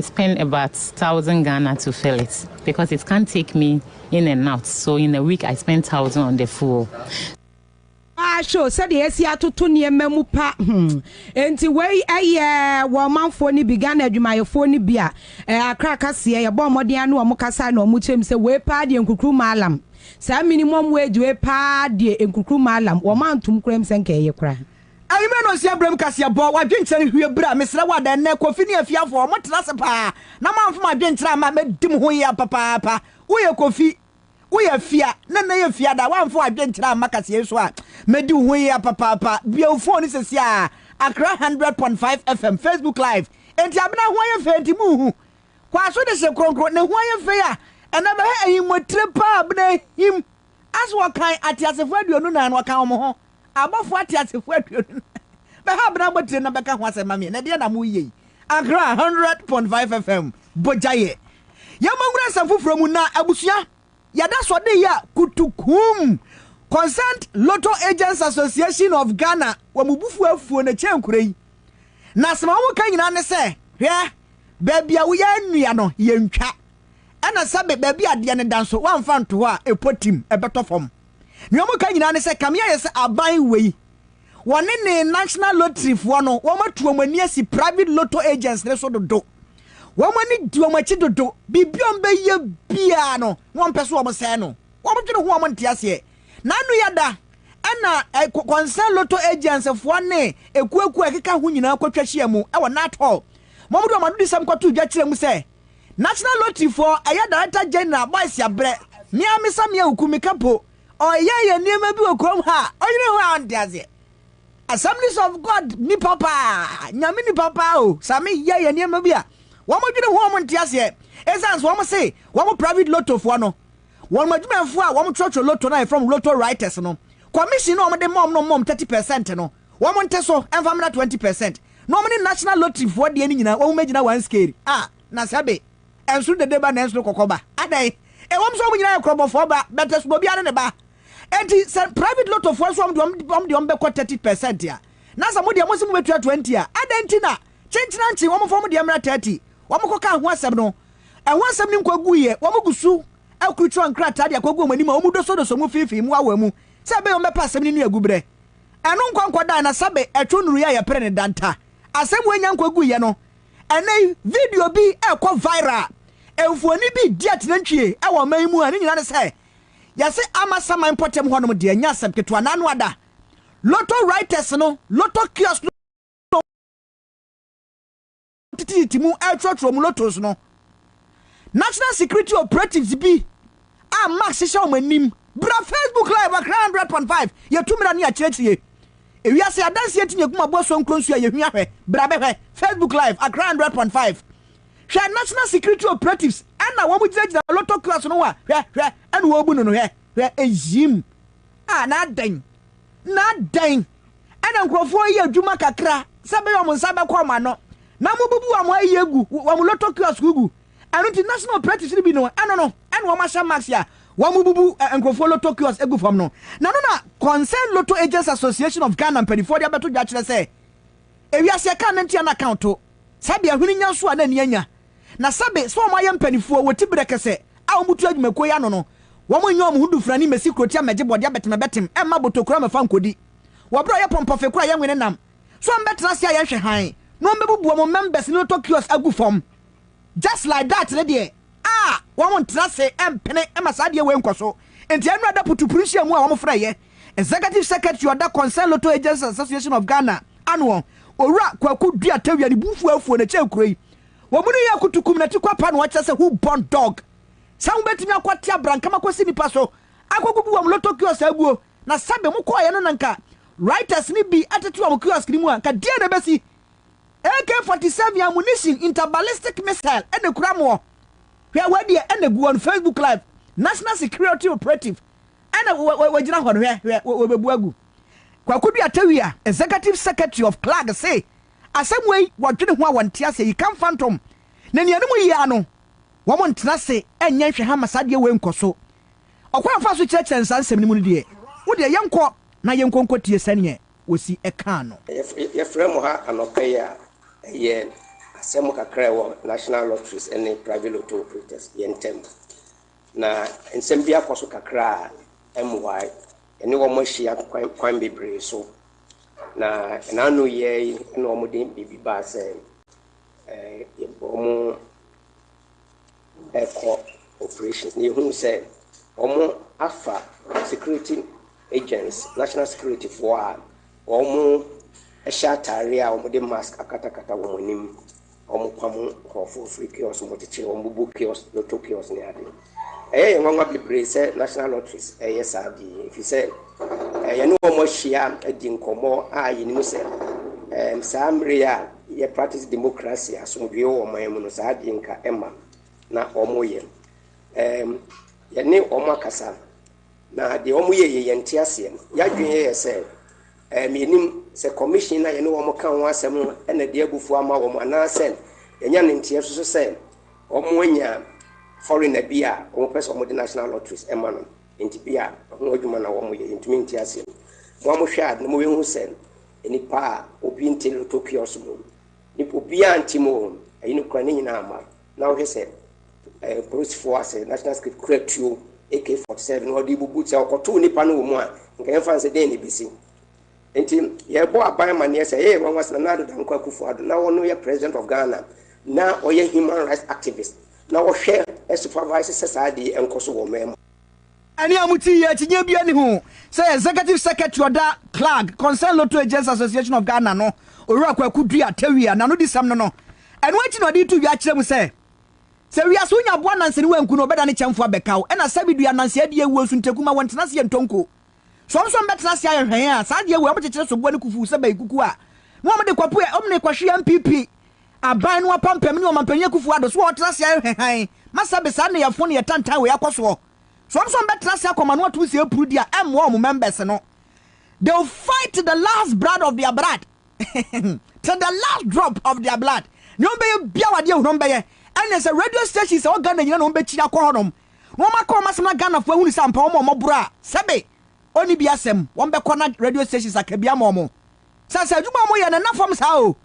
I spend about thousand Ghana to fill it because it can't take me in and out so in a week I spend thousand on the fuel. Ah, show sɛdeɛ asi atoto nneɛma mu pa hmm. nti wei ɛyɛ eh, wɔ ɔmanfoɔ no bi ghana adwumayɛfoɔ no bi a eh, akra kaseɛ yɛbɔ mmɔden ano ɔmo kasa na ɔmo kyerɛm sɛ wei paa deɛ nkukuru maalam saa minimum wage wei paa deɛ nkukuru maalam wɔn antom koraa mu sɛ nka ɛyɛ koraa Anwummerɛ nnɔnsia berɛ mu kaseɛbɔ, w'adwenkyerɛ rehwie bra, mesrɛ wo ada nnɛ, Kofi ne afiafoɔ, motra ase paa, na moamfa mo adwenkyerɛ amma, mɛdi mo ho yea papaapa. Woyɛ Kofi, woyɛ afia, na nnɛ yɛ fiada, woamfa w'adwenkyerɛ amma kaseɛ yi so a, mɛdi wo ho yea papaapa. Bue wo fon no seesei ara, Accra hundred point five FM, Facebook Live. Enti Abena ho ayɛ fɛ nti monhu? Kwaso de hye kronkron, ne ho ayɛ fɛ a, ɛnna bɛhwɛ ahim wɔ tire paa Abena ahim, as wɔkan ateasefoɔ aduonu nan no, wɔkan wɔn ho. Abɔfo ateasefo aduonu no bɛha bere abotiri na bɛka ho asɛm ma me. Ɛnneɛ na moreyɛ yi. Accra, hundred point five FM, Bogyaeɛ. Yɛn mo nwura nsɛm foforɔ mu na abusua yɛda sɔde yɛ kutukuum Concerned Lotto Agents Association of Ghana wɔ mo bufuo afuo no kyɛ nkuro yi na asɛm a wɔka nyinaa ne sɛ hwɛ baabi a woyɛ nnua no yɛntwa ɛna sɛbe baabi adeɛ no da nso woamfa nto hɔ a ɛpɔ tim ɛbɛtɔ fam Nea wɔka nyinaa ne sɛ Kami ayɛ sɛ aban wei. Wɔne ne National Lottery foɔ no, wɔn atu wɔn ani asi private lotto agents no so dodo. Wɔn ani di wɔn akyi dodo. Biribi a wɔbɛyɛ biara no, wɔmpɛ sɛ wɔsɛe no. Wɔdwene ho a wɔnte aseɛ. Na ano yɛ da, ɛna concerned lotto agents foɔ ne akuakuo a ɛkeka ho nyinaa kɔtwa hyia mu wɔ Nat Hall. Wɔde wɔn anodisɛm kɔtoo dwa kyerɛɛ mu sɛ, National Lottery foɔ ɛyɛ Director General Boys Yabrɛ me a me sa me awuku me ka po ɔyɛ yɛ nneɛma bi wɔ kurom ha ɔyere ho a ɔnte aseɛ Assemblies of God nipa paa nyame nipa paa o sa me yɛ yɛ nneɛma bi a wɔn dwene ho wɔn nte aseɛ ɛsan so wɔn se wɔn private lotto foɔ no wɔn adwumayɛfoɔ a wɔn twerɛtwerɛ lotto no a yɛfrɛ wɔn lotto writers no commission na wɔn de ma wɔn no wɔn 30 percent no wɔn nte so mfa mmra twenty percent na wɔn ne national lottery foɔ deɛ no nyinaa wɔn mmɛgyina one scale a na sɛbe ɛnsoro dede ba na ɛnsoro kɔkɔ ba adɛn ɛwɔm sɛ wɔn nyinaa yɛ korɔbɔfoɔ ba but ɛsono obiara ne ne ba enti sɛ private lotto foɔ nso wɔn deɛ wɔn deɛ wɔn bɛkɔ thirty percent a na sɛ mo deɛ mo se mo bɛtua twenty a adɛn ti na kyenkyenankye wɔn mfa wɔn deɛ mmra thirty wɔn kɔ ka ho asɛm no ɛho asɛm no nkɔ gu yɛ wɔn gu so akurukyerɛ nkrataa de akɔgu wɔn anim a wɔn dosodoso mu fiifii mu awa mu sɛ ɛbɛyɛ wɔn bɛpa asɛm no ne agu brɛ ɛno nkwa nkɔdae na sɛbe ɛtwe wo nnuruyɛ a yɛpere no da nta. Asɛm wei nya nkwa guiɛ no, ɛnnɛ yi video bi rekɔ viral a mfonin bi redi atenantwie wɔ ɔman yi mu a ne nyinaa ne sɛ yɛse ama saman mpɔtam hɔnom deɛ ɛnyɛ asɛm ketewa na ano ada. Lotto writers no, lotto kiosk no, tititi mu retrɔtrɔ mu lotos no, National Security Operatives bi a Max hyehyɛ wɔn anim bra Facebook Live Accra 100.5 yɛtu mmara ne akyerɛkyerɛ ewiase adanseɛ nti ne aguma boa so nkronsu a yɛhua hwɛ bra bɛhwɛ Facebook Live Accra 100.5 hwɛ National Security Operatives ɛna wɔn gyinagyina lotto class no a hwɛ hwɛ ɛna wɔbu no no hwɛ hwɛ ɛyim a na adɛn Na dɛn na nkurɔfoɔ yɛ adwuma kakra sɛ ɛbɛyɛ wɔn nsa bɛkɔ wɔn ano, na wɔbubu wɔn ayi agu wɔn lotto kiosk gu. Ɛno nti, National Operatives no bi no, ɛno no, ɛna wɔahyɛ Max a wɔbubu nkurɔfoɔ lotto kiosk gu fam no. Na ɛno na Concerned Lotto Agents Association of Ghana mpanimfoɔ de abɛto dwa akyerɛ sɛ ewiase ɛka ne ntua no account. Sɛbe ahwene nya nso a na ani anya. Na sɛbe sɛ wɔn ayɛ mpaninfoɔ a wɔti berɛ kɛsɛ a wɔn butu adwumakuo yi ano no, wɔn nyɛ wɔn ho dufrani mmɛsi kurotia mmɛgye bɔdeɛ abɛtemɛbɛtem mma botokura mmɛfa nkɔdi. Wɔ berɛ a wɔyɛ pɔmpɔfe koro a yɛnwene nam so a wɔbɛtena ase a yɛnhwɛ hann na wɔbɛbubu wɔn members no tɔ kiosk agu fam just like that no deɛ a wɔntena ase mpene ma saa adeɛ wei nkɔ so. Enti ɛnnora da putupuru nhyiamu a wɔfrɛeɛ Executive Secretary a ɔda Concerned Lotto Agents Association of Ghana ano hɔ, Owura Kwaku Duah Tawia ne bo fuw afuw no kyɛɛ kuro yi. Wɔn no yɛ akutu kum na ti kwapa na wɔkyerɛ sɛ who born dog? Sɛ wobetumi akɔte abrankam akɔsi nnipa so akɔgugu wɔn lotto kiosk aguo na sɛbe mokɔeɛ no na nka rioters no bi tete wɔn kiosk no mu a nka deɛn na ɛbɛsi? AK 47 ammunition interballistic missile na ɛkura moɔ. Hwɛ wei deɛ na ɛgu on Facebook live, National Security Operative Ɛna wɔgyina hɔ no, hwɛ, hwɛ, wɔbɛbu agu. Kwaku Duatawia, Executive Secretary of CLAG se, Asɛm wei, wɔdwene ho a wɔnte aseɛ, yika mfantom. Na nea ɛne mu ye ara no, wɔntena ase nyɛ nhwɛha mma saa adeɛ wei nkɔ so. Ɔkwan a wɔfaa so kyerɛkyerɛɛ no saa nsɛm no mu no deɛ, wo deɛ yɛnkɔ na yɛnkɔ nkɔtie sɛdeɛ wɔsi kaa no. Yɛfrɛ mo ha anɔpa yi a, ɛyɛ asɛm kakra a ɛwɔ National Lotteries ne Private Lotto Operators yɛn ntam. Na nsɛm bi akɔ so kakra a ɛmmoae. Yɛne wɔn ahyia kwan bebree so. Na ɛna ano yɛ yi na wɔde biribi baa sɛ ɛɛ wɔn ɛkɔ operation. Na yɛhunu sɛ wɔn afa security agents, national security foɔ a wɔn hyɛ ataareɛ a wɔde mask akatakata wɔn anim. Wɔpam nkurɔfoɔ firi kiosk mu kyekyere wɔn, bubu kiosk, lotto kiosk ne ade. Ɛyɛ yɛn nwanwa bebree sɛ National Lotteries reyɛ saa ade yi, ɛfiri sɛ yɛne wɔn ahyia adi nkɔmmɔ a yɛnim sɛ saa mmerɛ yi a yɛ practice democracy, asomdwoeɛ wɔ ɔman mu no, saa adeɛ nka ɛma na wɔyɛ. Yɛne wɔn akasa. Na deɛ wɔn yɛ yi yɛn nte aseɛ no yadwen yɛ yɛ sɛ ɛɛ me nim sɛ commission na yɛne wɔn ka ho asɛm no na deɛ abufuo ama wɔn anaa sɛ yɛnya ne nteɛ so so sɛ wɔn anya foreigner bi a wɔn pɛ sɛ wɔn de national lotteries ɛma no nti bi a ho adwuma na wɔn yɛ yɛntumi nte aseɛ no mo a mo hwɛ a na mo bɛhu sɛ nipa a obi nte lotto kiosk mu nipa obi a nte mu o ɛyi no kura ne nyinaa ama. na wohwɛ sɛ ɛɛ polisifoɔ asɛ national security kura tuo ak forty seven na ɔde bubu sɛ ɔkɔtoo nipa no wɔ mu a nka yɛn fa nsɛ dɛn na ebesi nti yɛbɔ aban amaneɛ sɛ ɛyɛ nwanwa sɛ nana adoda nkɔ akufo ado na wɔn yɛ president of ghana na ɔyɛ human rights activist na wɔhwɛ supervise sɛ saa adeɛ nkɔ so wɔ ɔman mu. Ɛne a mote yi akyinnye biara nni ho sɛ Executive Secretary ɔda Clag Concerned Lotto Agents Association of Ghana no, Owura Kwaku Duah Tawia na anodisɛm no no. Ɛno akyi na ɔde to dwa kyerɛ mu sɛ, Sɛ wiase wo nya aboa nanse ne wanku no, ɔbɛdane kyɛmfo abɛkaw, ɛna sɛbi dua nanse adi awuo nso nteku ma wɔntena ase yɛ ntonko. So wɔn nso wɔbɛtena ase ayɛ hwɛn a saa adeɛ wei wɔkyekyere soboɔ ne kufuo sɛ bɛyi kuku a na wɔde kɔpo yɛ wɔn ne kɔhwe NPP aban no apampam ne ɔmanpanyin Akufo Addo so wɔtena ase ayɛ hwɛ hann ma sɛbe saa nneyɛfo ne yɛtantan wei akɔ soɔ so wɔn nso wɔbɛtena ase akɔ ma no ato nsa apuru di a ɛmmoa wɔn members no they will fight to the last blood of their blood to the last drop of their blood ne wɔn bɛyɛ biawadeɛ hunu wɔn bɛyɛ ɛne sɛ radio station sɛ wɔ Ghana nyina na wɔn bɛkyiri akɔ hɔnom na wɔn akɔ wɔn asɛm na Ghana foɔ ahunu sɛ ampa wɔn a wɔboro a sɛbe ɔnni bi asɛm wɔn bɛkɔ na radio stations aka bi ama wɔn sɛ sɛ adwuma a wɔyɛ no ɛnna fam saa o.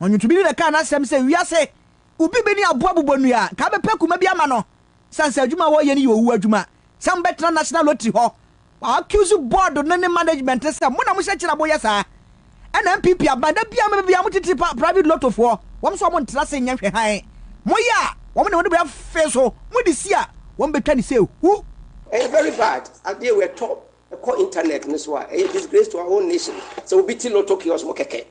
Na ɔnwontobi bi bɛkaa n'asɛm sɛ wiase obi bi ne aboa bobɔ nnua a nka abɛpɛ kuma bi ama no sane sɛ adwuma a wɔyɛ no yɛ owuo adwuma sɛ wɔbɛtena National Lottery hɔ Wa accuse board no ne management no sɛ mo na mo hyɛ kyerɛ a mo yɛ saa. Ɛna NPP aban da biara mo bɛ biara mo titiri pa private lotto foɔ, wɔn nso wɔn ntra ase nyɛ hwɛ hann. Mo yɛ a, wɔn na wɔn de bɛ fe so, mo de si a, wɔn bɛ twa ne sɛ hu. Ɛyɛ very bad, adeɛ wei ɛtɔ, ɛkɔ internet no so a, ɛyɛ disgrace to our own nation, sɛ obi te lotto kiosk mu kɛkɛ,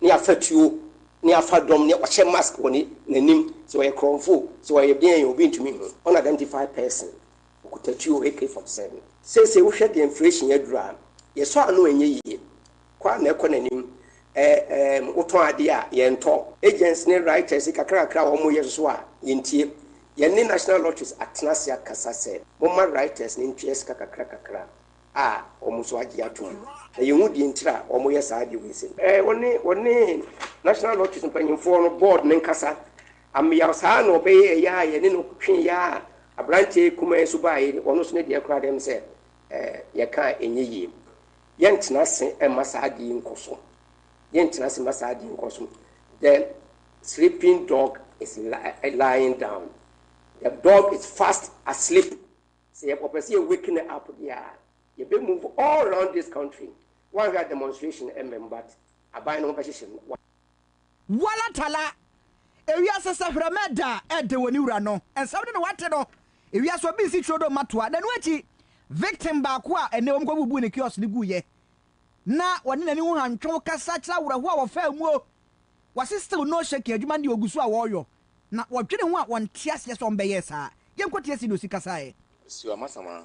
ne afa tuo, ne afa dɔm, ne ɔhyɛ mask wɔ ne, n'anim, sɛ ɔyɛ krɔnfo, sɛ ɔyɛ deɛn, obi ntumi nhu, unidentified person, Okuta tuo AK 47. Seesei wohwɛ deɛ inflation aduru a, yɛsɔ ano a ɛnyɛ yie. Kɔ ara na ɛkɔ n'anim. Ɛɛm, wotɔn adeɛ a, yɛntɔ. Agents ne writers yi kakrakakra a wɔreyɛ nso a, yɛntie. Yɛne National Lotteries atena ase akasa sɛ momma writers no ntwea sika kakrakakra a wɔn nso agye atom. Na yɛnhu deɛ nti a wɔyɛ saa adeɛ wei sei. Wɔne, wɔne National Lotteries mpanimfoɔ no, board no nkasa Amyaw saa ara na ɔbɛyɛɛ yɛ a yɛne no twee yɛ a aberanteɛ kumaa yi nso baeɛ yi, ɔno nso ne deɛ koraa dɛm sɛ ɛɛ yɛka a ɛnyɛ yie. Yɛntena ase mma saa adeɛ yi nkɔ so. Yɛntena ase mma saa adeɛ yi nkɔ so. The sleeping dog is lying down. The dog is fast asleep. Sɛ yɛ ɔpɛ sɛ yɛ wake no up deɛ a, yɛbɛ move all round this country. Woanhwɛ a demonstration mmam but aban no ho bɛhyehyem. Wala tala, Ewiase sɛ hwerɛma ɛda a ɛde wɔ ne wura no nsɛm no na wate no, ewiase obi nsi turo do mma toa, na ɛno akyi victim baako a ɛnnɛ wɔn kɔbubuu ne kiosk no guiɛ na wɔne n'ani ho hantwew kasa kyerɛ awerɛhoɔ a wɔfaa muo, wase still no shaking adwuma no deɛ ɔgu so a wɔreyɔ na wɔdwene ho a wɔnte aseɛ sɛ wɔbɛyɛɛ saa, yɛnkɔtie sɛdeɛ ɔsi kasaeɛ. Asuo Amasama,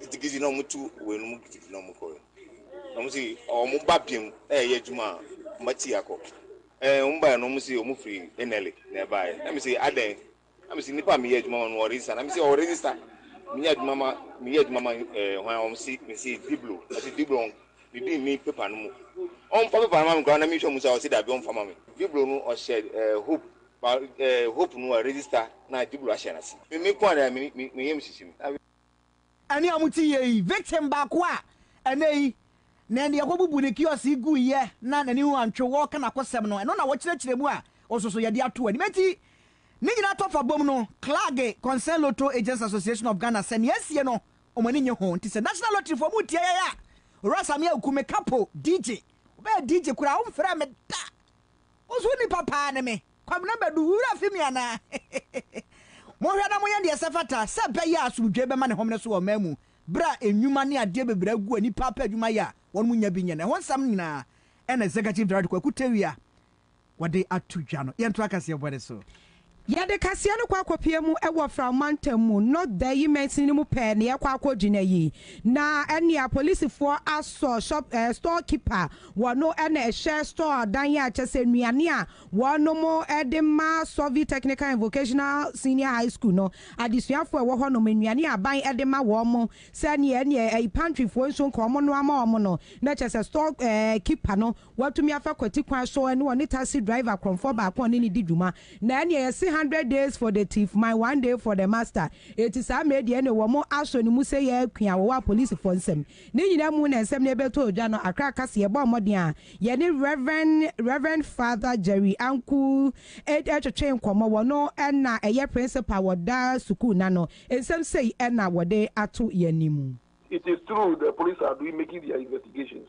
gidigidi na wɔn tu wɔ ɛno mu gidigidi na wɔn kɔ yɛ na wɔn si wɔn ba biam ɛyɛ adwuma a wɔn ati akɔ ɛɛ wɔn ba yɛ na wɔn si wɔn firi enɛli na ɛba yɛ na mi si adɛn na mi si nipa mi yɛ adwuma ma no wɔ register na mi si wɔ register mi yɛ adwuma ma mi yɛ adwuma ma ɛɛ wɔn a wɔn si mi si diblo mi si diblo wɔn mi bi mi pepa no mu wɔn fa pepa no ma mi kora na mi hwɛ mu sa wɔn si dabi wɔn fa ma mi diblo no ɔhyɛ ɛɛ hope. Ba eh hope no a register na jubilo ahyɛ nase me me koa na me me yam hyehye me na. Ɛne a mote yie yi victim baako a ɛnɛ yi na ɛnde yɛkɔbubu ne kiosk yi guiɛ na n'ani ho antwe wɔɔka n'akosɛm no ɛno na wɔkyerɛkyerɛ mu a ɔsosoyɛde ato anim enti ne nyinaa tɔ fa bom no Klage Concern Lotto Agents Association of Ghana sɛ nea asie no wɔn ani nye ho nti sɛ National Lottery foɔ mo tie yɛn a Owura Samia Oku me kapo DJ wobɛyɛ DJ koraa womfrɛɛ me da Wo so nipa paa ne me. Kwabena Badu, wo werɛ afi me anaa? Monhwɛ na monyɛ deɛ ɛsɛ fata sɛ ɛbɛyɛ a asomdwoeɛ bɛma ne home no so wɔ ɔman mu berɛ a nnwuma ne adeɛ bebree agu a nipa apɛ adwuma yɛ a wɔnom nnya bi nyɛ no. Ɛho nsɛm no nyinaa ɛna Executive Director Kwaku Tewia wɔde ato dwa no. Yɛntoa kaseɛbɔ no so. Yɛde kaseɛ no kɔ akɔpie mu wɔ Frao mantam mu, North Dayi mansini no mu pɛɛ na yɛkɔ akɔgyina yi. Na ɛnneɛ apolisifoɔ asɔ shop eh, store keeper, wɔno na ɛhyɛ store adan a kyɛ sɛ nnuane a wɔnom de ma Sɔvi Technical and Vocational Senior High School no adesuafoɔ a ɛwɔ hɔnom, nnuane a aban de ma wɔn sɛdeɛ ɛnneɛ ayi pantryfoɔ nso nka wɔnnoa ma wɔn no, na kyerɛ sɛ store eh, keeper no Watumi afa kwati kwan so ɛne ɔne taxi driver korɔmfoɔ baako a ɔne no di dwuma na ɛneɛ yɛse hundred days for the thief my one day for the master eti saa mmerɛ deɛ ɛneɛ wɔn asɔ ne mu sɛ yɛ akua a wɔwɔ apolisifoɔ nsam ne nyinaa mu na nsɛm no ɛbɛtɔ dwa no akra ka se yɛbɔɔ mmɔden a yɛne Rev. Rev. Father Jerry Anku twetwee nkɔmmɔ wɔno na ɛyɛ principal wɔ daa sukuu no ano nsɛm sei na wɔde ato yɛn anim. It is true the police are doing making their investigations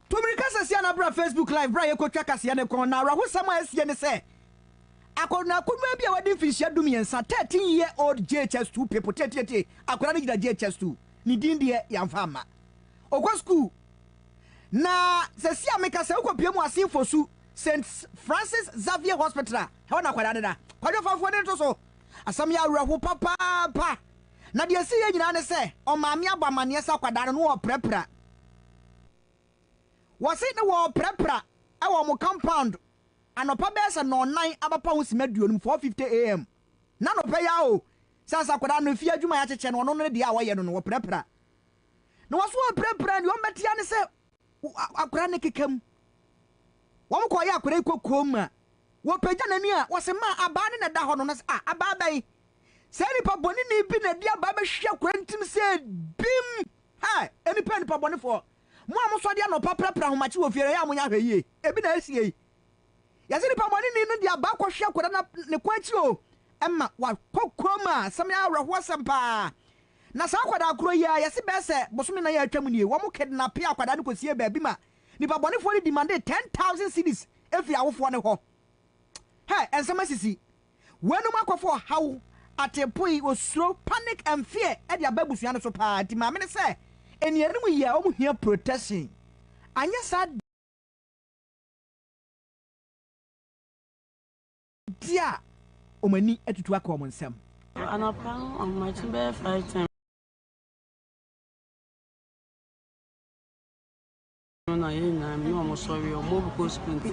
Tomiri kasa sia na bra Facebook live bra yɛkɔ twa kaseɛ no kɔn na awerɛhosɛm a asie ne sɛ akɔnɔ akonwa bi a wadi mfinhyia du mmiɛnsa 13 year old JHS two people tietietie akwadaa no gyina JHS two ne din deɛ yɛamfa amma ɔkɔ sukuu na sɛsi a mekasa wokɔ pie mu ase fosu St Francis Xavier Hospital a ɛhɔ na akwadaa no da kwadwo fa mfoɔni nto so asɛm yɛ awerɛho papaapa na deɛ ɛsi yɛ nyinaa ne sɛ ɔmaame abɔ amanneɛ sɛ akwadaa no no ɔprɛprɛ Wɔse ne wɔɔprapra wɔ wɔn compound anɔpa bɛyɛ sɛ nɔnnan abapa ho sima aduonu mu, 4:50 AM. Na anɔpa yi ara o, sɛnsa akwadaa no efie adwuma a yɛakyekyɛ no ɔno no ne deɛ a wɔyɛ no no wɔprapra. Na wɔse wɔɔprapra no deɛ wɔn bɛte ara ne sɛ akwadaa no akeka mu. Wɔn kɔɔyɛ akwadaa yi kokoam a, wɔpagya n'ani a wɔse maa abaa no na ɛda hɔ no, na se ah abaa bɛn? Saa nipa bɔneni bi na ɛde abaa bɛhwe akwadaa no tirim sɛ bim! Ɛ! Nnipa nnipabɔnefoɔ, mo a mosɔre anɔpa prapra ahomakye wɔ fie no, ɛyɛ a monyɛ ahwɛyie. Ebi na ɛresie yi. Yɛse nnipabɔneni no de aba akɔhwe akwadaa no ne kɔn akyi oo, ɛma wakɔ koom a, asɛm yi awerɛhoɔ asɛm pa ara. Na saa akwadaa korɔ yi ara, yɛse bɛyɛ sɛ bosome nan a atwam nie, wɔn kidnapee akwadaa no kɔsiee baabi ma nnipabɔnefoɔ no demandee ten thousand cedis firii awofoɔ no hɔ. Ɛ! Nsɛm asisi. Weinom akɔfa ɔhaw, ateepoe, osuro, panic and fear de aba abusua no so paa nti maame no sɛ anianom yi a wɔn hia protection anyɛ saa deɛ a wɔn ani atutu aka wɔn nsam. Anɔpa no wɔn akyi bɛyɛ five ten. no na yɛn nyinaa mi na wɔn sɔre wɔn obi kɔ sukuu nti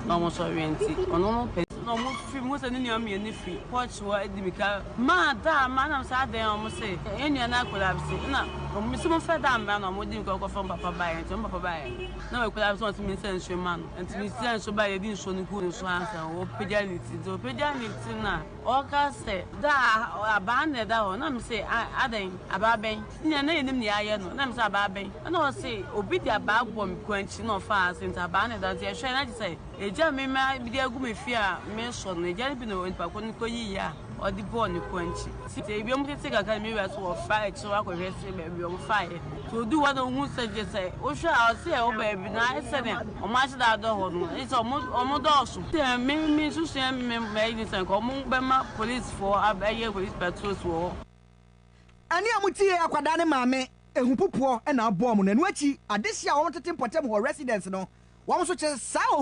na wɔn sɔre nti ɔno no pɛ na wɔn firi mu sɛ ne nua mmienu firi pɔɔkye hɔ adi mi ka maa daa maa nam sɛ adan wɔn sɛ yɛn nua no akɔla bi sɛ ɛna wɔn si mo fɛ daa mmra na wɔn di nkɔ kɔ fam papa baayɛ nti wɔn papa baayɛ na wɔn akɔla bi sɛ wɔn ti mi nsɛ nsuo ma no nti mi sɛ nsuo baayɛ di nsuo no gu ne so ansa wɔpagya ne ti nti wɔpagya ne ti na ɔka sɛ daa abaa na ɛda hɔ na mi sɛ adan abaa bɛn. Nea na yenim nea ayɛ no, na mise abaa bɛn? Ɛna ɔse obi de abaa bɔ me kɔn akyi na ɔfaa ase nti abaa na ɛda hɔ. Nti yɛhwɛe na agye sɛ egya me ma mede agu me fie a meresɔ no. Egya no bi na onipa ko no kɔyiyi a ɔde bɔɔ ne kɔn akyi. Nti ebinom tete kakra na me wura se wɔfa akyire akɔhwɛ se baabi a wɔfaeɛ. Nti ɔduu hɔ na ɔhuu sɛ gye sɛ wohwɛ a ɔse ɛwɔ baabi na ayɛ sɛ nea wɔn ahye da adɔ hɔ no, agye sɛ wɔn dɔɔso. Deɛ me mensusuiɛ ne sɛ nka wɔbɛma polisfoɔ abɛyɛ police patrols wɔ hɔ. Ɛne a motiee akwadaa no maame ahupopoɔ na abɔɔ mo no, ɛno akyi adehye a wɔtete mpɔtam hɔ residents no, wɔn nso kyɛ saa ohuu.